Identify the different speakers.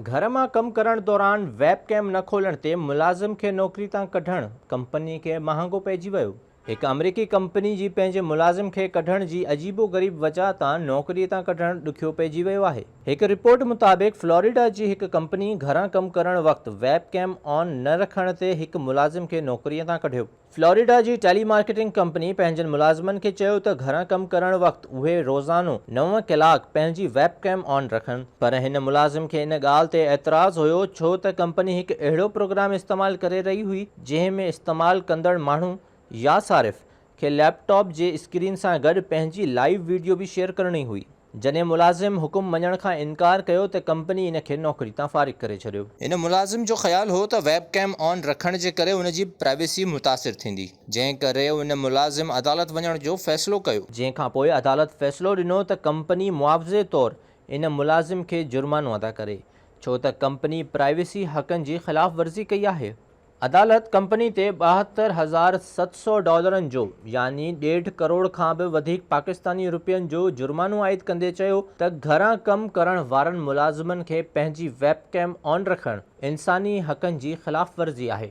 Speaker 1: گهر مان ڪم ڪرڻ دوران ويب ڪيم نه کولڻ تي ملازم کي نوڪري تان ڪڍڻ ڪمپني کي مهانگو پئجي ويو هڪ آمريڪي ڪمپني جي پنهنجي ملازم کي ڪڍڻ جي عجيب و غريب وجهه تان نوڪري تان ڪڍڻ ڏکيو پئجي ويو آهي. هڪ رپورٽ مطابق فلوريڊا جي هڪ ڪمپني گهران ڪم ڪرڻ وقت ويب ڪيم آن نه رکڻ تي هڪ ملازم کي نوڪري تان ڪڍيو. فلوريڊا جي ٽيلي مارڪيٽنگ ڪمپني پنهنجن ملازمن کي چيو ته گهران ڪم ڪرڻ وقت اهي روزانو نو ڪلاڪ پنهنجي ويب ڪيم آن رکن پر هن ملازم کي ان ڳالهه تي اعتراض هيو ڇو ته ڪمپني هڪ اهڙو پروگرام استعمال ڪري رهي هئي جنهن ۾ استعمال ڪندڙ ماڻهو يا صارف کي ليپ ٽاپ جي اسڪرين سان گڏ پنهنجي لائيو وڊيو به شيئر ڪرڻي هئي، جڏهن ملازم حڪم مڃڻ کان انڪار ڪيو ته ڪمپني ان کي نوڪري تان فارغ ڪري ڇڏيو. هن ملازم جو خيال هو ته ويب ڪيم آن رکڻ جي ڪري ان جي پرائيويسي متاثر ٿيندي، جنهن ڪري ان ملازم عدالت وڃڻ جو فيصلو ڪيو. جنهن کانپوء عدالت فيصلو ڏنو ته ڪمپني معاوضي طور ان ملازم کي جرمانو ادا ڪري، ڇو ته ڪمپني پرائيويسي حقن جي خلاف ورزي ڪئي آهي. عدالت ڪمپني تي ٻاهتر هزار ست سؤ ڊالرن جو يعني ڏيڍ ڪروڙ کان به وڌيڪ پاڪستاني روپين جو جرمانو عائد ڪندي چيو ته گهران ڪم ڪرڻ وارن ملازمن کي پنهنجي ويب ڪيم آن رکڻ انساني حقن جي خلاف ورزي آهي.